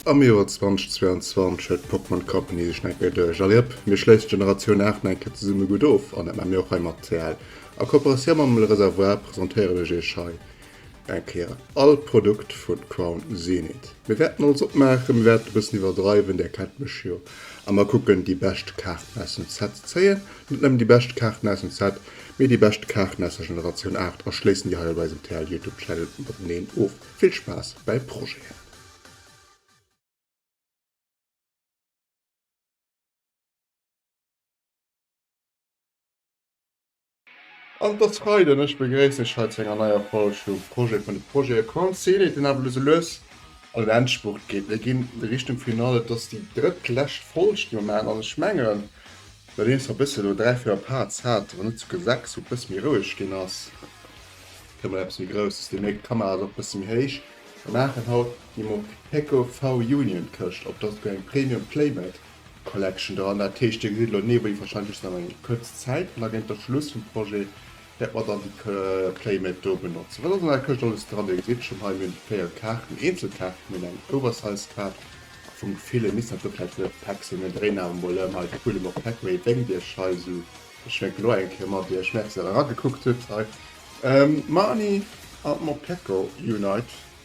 Am Joer 2022 huet d'Pokémon Company sech nach eng Kéier duerch. Allez hop, mir schléissen d'Generatioun 8 nach eng Kéier zesumme gutt of an dat maache mir och hei mat TL. A Kooperatioun mam Le Réservoir presentéieren ech iech hei Eng Kéier all Produkt vun Crown Zenith. Mir wärten alles opmaachen, mir wärten e bëssen iwwerdreiwen, där kennt mech jo, a mer kucken déi bescht Kaarten aus dem Set ze zéien, net nëmmen déi bescht Kaarten aus dem Set, mee déi bescht Kaarten aus der Generatioun 8 a schléissen déi hei op eisem TL Youtube Channel mateneen of. Vill Spaass bäi Projeten! An et ass Freiden an ech begréissen iech hei zu enger neier Folg vu Projet vun de Projete. E Coin Scenic, deen awer elo sou lues an den Endspurt geet. Mir ginn Richtung Finale, et ass déi drëttlescht Folg déi mer maachen an ech mengen, nodeems mer e bësse elo dräi, véier Parts haten, wann net souguer sechs, wou et e bësse méi roueg ginn ass, kritt mer eppes méi Grousses. Dir mierkt, d'Kamera ass och e bësse méi héich. Mir maachen haut déi Mopeco V-Union Këscht, ob der souguer eng Premium Playmat. Collection dran. Dat heescht, Dir gesitt elo den Nebeli warscheinlech nach eng kuerz Zäit, an da géint de Schluss vum Projet wäerte mer dann déi Playmat do benotzen. Wat ass an der Këscht alles dran? Dir gesitt schonn hei, mir hunn véier Kaarten, Eenzelkaarten, mir hunn eng Oversize-Kaart vum Gefill, e misst dat do vläicht net op Päck sinn. Mir hunn dréi Namen emol ëm, hei de Pullem op Päck. Wéi denkt Dir ech hei esou? Ech schwänken elo eng Kéier mat Iech. Merci, dass Der eragekuckt hutt hei. D'Marni an d'Mopeko Unite.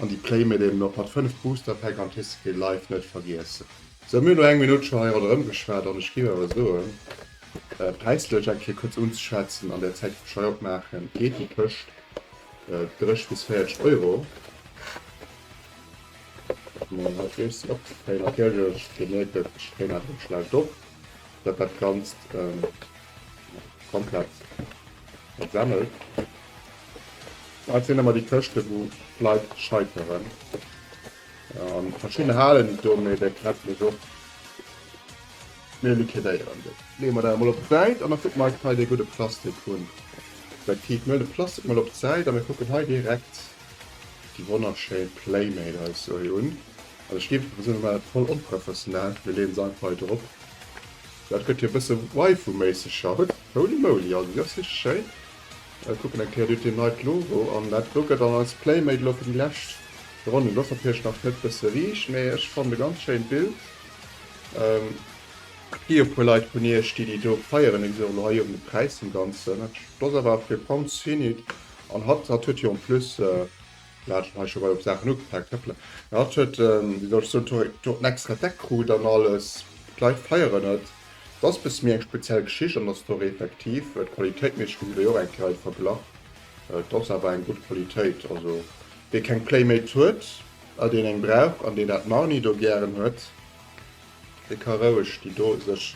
An déi Playmate eben och mat 5 Booster Pack an TCG Live net vergiessen. Sou, mir hunn no eng Minutt scho hei ronderëm geschwat an ech géif awer soen, präislech eng Kéier kuerz unzeschwätzen an där Zäit wou ech hei opmaachen, geet déi tëscht 30 bis 40 Euro. Mee hei freeg se op, hei natierlech, Dir mierkt et, ech dréinen einfach schlecht op, datt dat Ganzt. Komplett. Dat semmelt. Dat sinn ëmmer déi Këschte wou d'Leit scheiteren. An verschidden halen et do, mee dat krätzt mech och. Mir liquidéieren déi. Leeë mer dat emol op d'Säit an da kucke mer eis hei dee gudde Plastik un. Effektiv, mir leeën de Plastik emol op d'Säit a mir kucken hei direkt déi wonnerschéi Playmate eis sou hei un. Also ech géif einfach soen, mir maachen dat voll onprofessionell, mir leeën se einfach hei drop. Dat gëtt jo e bësse Waifu-méisseg scho. Hutt, holy moly, also déi ass richteg schéin. Ech kucken eng Kéier dot neit Logo an. Dat do gëtt dann als Playmate elo fir déi lescht Ronnen. Do ass natierlech nach net bësse riicht, mee ech fannen e ganz schéint Bild. Et gi jo e puer Leit vun iech, déi déi do feieren. Déi gesi och elo hei uewen de Präis vum Ganzen. Do ass awer fir Pounds Finite an hatt, hatt huet jo en plus Mir haten hei scho mol op Saachen ugefaangen trëppelen. Mee hatt huet, wéi soll ech soen, do en extra Deck krut an alles. D'Leit feieren et. Et ass e bësse méi eng speziell Geschicht an der Story effektiv. Qualitéitméisseg hunn se déi och eng Kéier alt verglach. Et ass awer eng gutt Qualitéit. Also wee keng Playmate huet a deen eng brauch an deen dat Marni do gären huet, Dee ka roueg déi do sech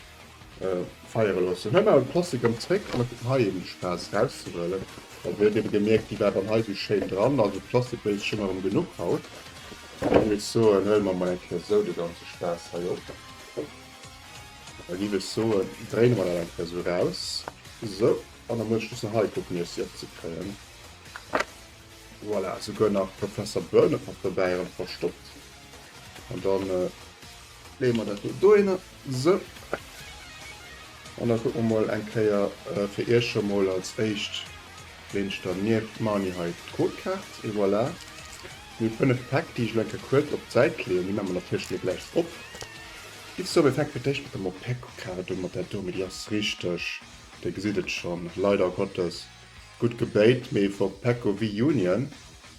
feiere loossen. Huet awer d'Posse gëmmt zréck an et gëtt hei eben de Spaass rauszehuelen. Well mir huet ebe gemierkt, déi war dann hei esou schéin dran. Also d'Plastik wéisst schonn erëm genuch haut. An ech muss soen, huele mer emol eng Kéier esou de ganze Spaass hei op. Da giff ech soen, dréine mer dat eng Kéier esou raus. Sou, an da muss ech just nach hei kucken, iech si opzekréien. Voilà, esouguer nach Professor Burnup mat dobäi erëm verstoppt. An dann äh, leeë mer dat do hinne. So. An da kucke mer mol eng Kéier äh, fir Iech scho mol als éischt leengt der nieft Money hei d'Codekaart. Et voilà. Mir hu 5 Päck, déi ech elo eng Kéier kuerz op d'Säit leeën. Déi maache mer natierlech elo gläich op. Giff so, mir fänke fir d'éischt mat der Moped-Card un, mat där do. Mee déi ass richteg, Dir gesitt et schonn, leider Gottes gutt gebéit, mee vu Pecco Wii Union.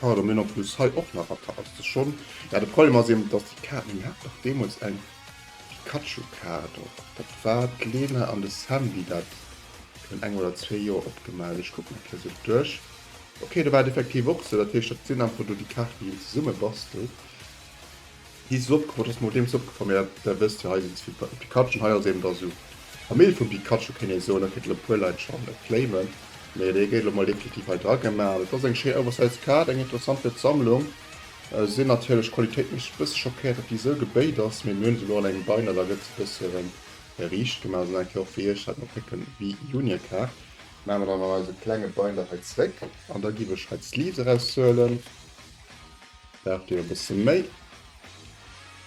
Pardon, den Opschluss hei och nach Ratter ass des schon. Ja de Problem ass eben dass déi Kaart, mir haten dach deemols eng Pikachu Kaart och, dat war d'Lena an de Sandy, dat virun engem oder zwee Joer opgemaach. Ech kucken nach fir sech duerch. Ok do war et effektiv och sou, dat heescht dat sinn einfach do déi Kaarten déi een zesumme bastelt. Di Sopp, wat ass mat deem Sopp geforméiert? Där wësst jo hei sin ze vill Pikachen, hei ass eben da su Famill vum Pikachu kéint ee soen, dat kënnt lo puer Leit schon claimen, mee dee gétt lo mol definitiv hei dra gemaach. Dat ass eng schéin oversize Kaart, eng interessant fir d'Sammlung. Sin natierlech d'Qualitéit mech e bësse schockéiert, dat di sou gebéit ass, mee mir hun se lo an engem Binder, da gëtt se e bësse rem riicht gemaach. Esou eng Kaart fir iech hat mer pécke wie Junior Kaart. Maache mer dann an eise klenge Binder hei zréck an da giff ech hei d'Sleeves eraushuelen. Braucht dir e bësse méi?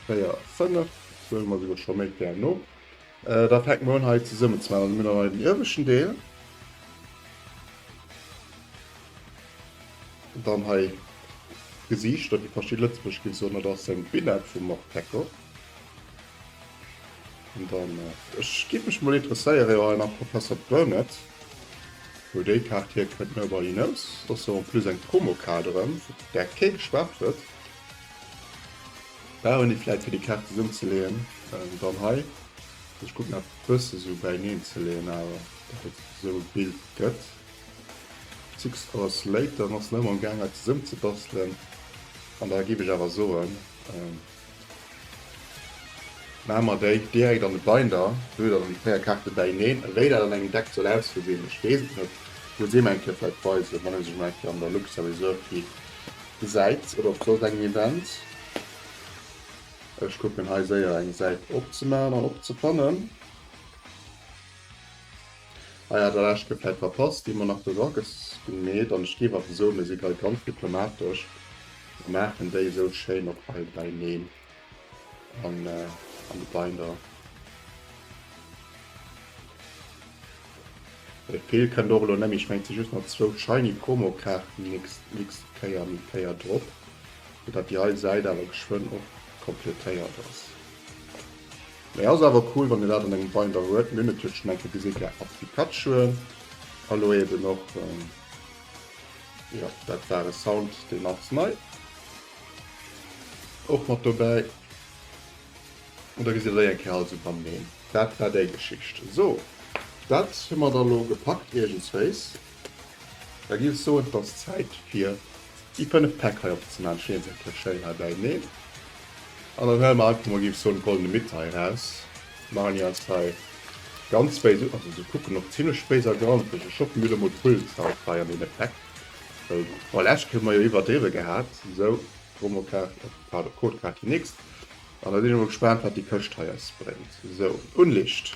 4, 5, soe mer souguer scho méi gär no. Da fänke mer un hei zesummen ze maachen. Also mir hunn dann hei den ieweschten Deel. Dann hei d'Gesiichter, déi verschidde Lëtzebuerg géif soen, dat ass eng Binett vum Morpeko. Und dann, äh, ich gebe mich mal interesseieren, ja, nach Professor Burnett, wo die Karte hier könnt mir bei Ihnen aus. Das ist so ein plus ein Promo-Kader, der kein geschwärzt wird. Da haben die vielleicht für die Karte zusammenzulegen. Ähm, dann hier, ich gucke nach bisschen so bei Ihnen zu legen, aber das wird so ein Bild gött. Six Hours Later, noch nicht mal im Gang, zusammenzubasteln. Und da gebe ich aber so, ähm, Maa mer déi direkt an de Binder, doe dann déi 4 Kaarte bäineen. Wéi dat an engem Deck soll ausgeseen, ech wees et net, muss ee mer eng Kéier vläit weisen, wann ee sech emol eng Kéier an der Luxor Reserve hie gesäit oder op soss engem Event. Ech kucken hei séier eng Säit opzemaachen an opzefannen. Ah ja, dat eischt gefläit verpasst, déi Monarch Rockets gemeet an ech géif awer soen, mir si grad ganz diplomatesch a maachen déi esou schéin och hei beineen an de Binder. Dee Feel kënnt och elo net méi, ech mengen et si just nach zwou shiny Promokaarten nächst Kéier eng Kéier drop, fir datt déi hei Säit awer geschwënn och kompletéiert ass. Mee ass awer cool wann dir dat an engem Binder huet. Mir hunn et jo schon eng Kéier gesi gehat mat Pikachue. Hallo eben och jo dat war e Sound deen ass nei och mat dobäi. An da gesi der déi eng Kéier alles iwwereneen. Dat war déi Geschicht. Sou dat hu mer da lo gepackt iergendswéis. Da giff ech soen et ass Zäit fir déi 5 Päck hei opzeman, stinn se kee schéin hei bäineen an dann huele mer einfach mol giff ech soen de goldene Mitte hei raus, machen déi eis hei ganz béis un, also se kucken och zimlech béis a granzeg, ech hoffen mir hunn emol Pullzeit hei an deene Päck, well d'Frau Leschke huet mer jo iwwerdriwwe gehat, sou Promo Kaart, pardon Code Kaart, déi nächst an da sinn ech emol gespaant wat déi Këscht hei eis bréngt, sou Unlicht.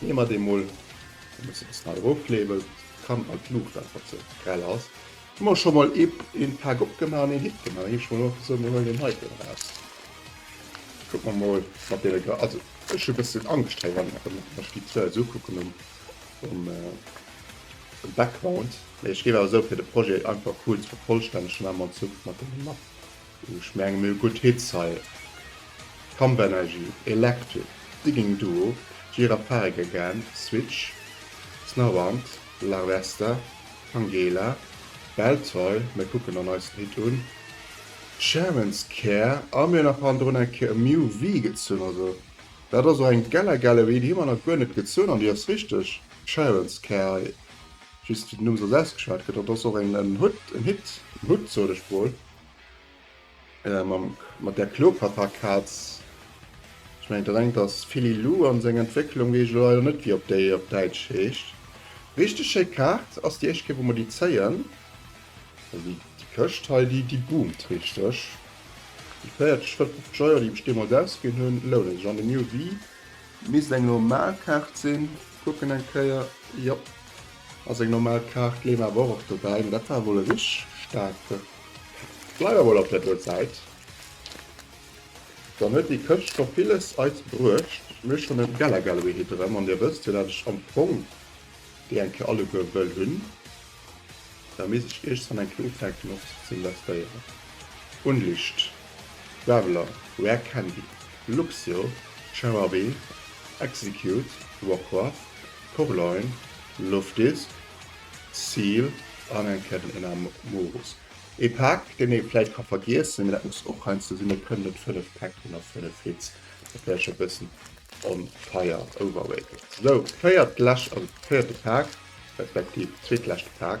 Nehmer deen mol en bessen ze nei erof kleebelt, kann an d'Luucht einfach ze grell ass. Hun mer schon mol een Pack opgeman an een Hit geman, da gin ech mol och gesoot mir huelen deen heiten eraus, kucken mer mol mat deene Gras, also ech hun bessen Angscht hei wann ech déi zwou esou kucken um Background, mee ech géif awer esou fir de Projet einfach cool ze vervollstännegen, emol en Zuch mat deenen Mappen. Ech mengen mir hu gutt Hits hei, Camp Energy, Electric, Digging Duo, Gira Fare Again, Switch, Snowbound, Larvesta, Tangela, Beltoy, mir kucken dann eis den Hit un, Germans Care a mir hu nach hannendrun eng Kéier Miu V gezunn. Also dat ass och eng Gella Gallery, déi hu mer nach guer net gezunn an déi ass richteg Germans Care hei, just wéi den Numm se ass ausgeschwat gëtt. Dat ass och en Hut, en Hit, en Hut sot ech wuel. Äh mam mat där Klopaterkaz. Ech mengen dat engt ass Philly Lou an seng Entwécklung wees ech elo leider net wéi op déi op Däitsch heescht. Richteg schéi Kaart, ass déi éischt Kéier wou mer déi zéien. Also déi déi Këscht hei déi déi boomt richteg. Déi 40, 50 Euro déi ech deemools ausginn hunn lounen sech an de New Wii. Misst eng normal Kaart sinn, kucken eng Kéier, jop. A seng normal Kaart leeën awer och och dobäi, mä dat war wuel e rich staarke. Bleiwe wuel op der Duer Säit. Dann huet déi Këscht scho villes eis bruecht. Mir schonn en Geller Gallery hit erëm, an Dir wësst jo, dat ech am Fong déi eng Kéier alleguer wëll hunn. Da misst ech iergstwann eng Kéier ufänken och ze investéieren. Unlicht, Traveller, Rare Candy, Luxio, Cherarbe, Execute, Warcraft, Portloin, Loftis, Seal an eng Kéier den Enamorus. Ee Pak, deen ee vläicht ka vergiessen, mee dat muss och heiansdo sinn. Et kënnen net 5 Päck sinn a 5 Hits, dat wär ech e bëssen onfair, overrated. Sou, véiert lescht, also véierte Pak, respektiv zweetleschte Pak.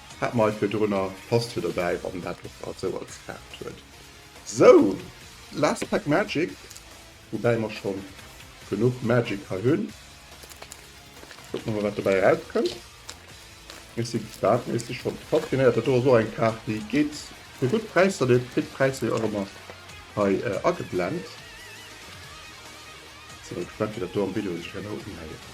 Hat mei virdrunner passt fir dobäi wann dat och grad sou als Kaart huet. Sou, last pack magic, woubäi mer schon genuch magic hei hunn. Kucken mer mol wat dobäi erauskënnt. Ech si gespaant, mee ech si schon top genéiert. Dat do ass och eng Kaart déi geet fir gutt Präisser, dir kritt d'Präisser jo och emmer hei ageblend. Si mol gespaant wéi dat do am Video sech herno unhéiert.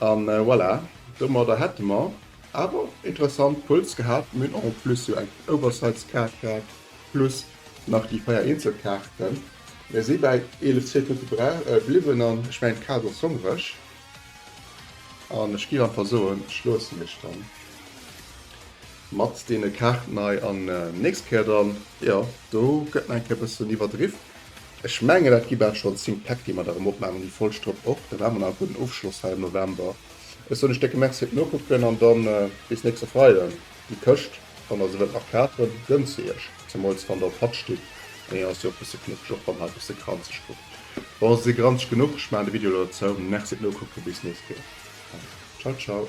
An voilà, domadder hätte mer awer interessant Pulls gehat. Mir hunn en plus jo eng Oversize-Kaart gehat, plus nach déi 4 eenzel Kaarten. Mir si bäi 11 Sekonte bliwwen an ech mengen d'Kaart ass hongreg an ech géif einfach soen, ech loossen iech da mat deene Kaarten hei an nächst Kéier dann. Jo, do gëtt nach eng Kéier e bëssen iwwerdriff, Ech mengen dat gi bal schonn 10 Päck déi mer da rëm opmaachen, déi voll Stropp och. Dann hu mer nach e gudden Ofschloss hei am November. Ech soen iech décke Merci fir d'Nokucken an da bis nächste Freiden. Déi Këscht, wann der se wëllt nach kafen, gönnt se iech, zemools wann der op Hatt stitt an hien ass jo och bësse knuffeg, och wann hei bësse granzeg kuckt. Bon, se si granzeg genuch, ech maachen de Video elo da zou. Merci fir d'Nokucken, bis nächst Kéier an ciao ciao.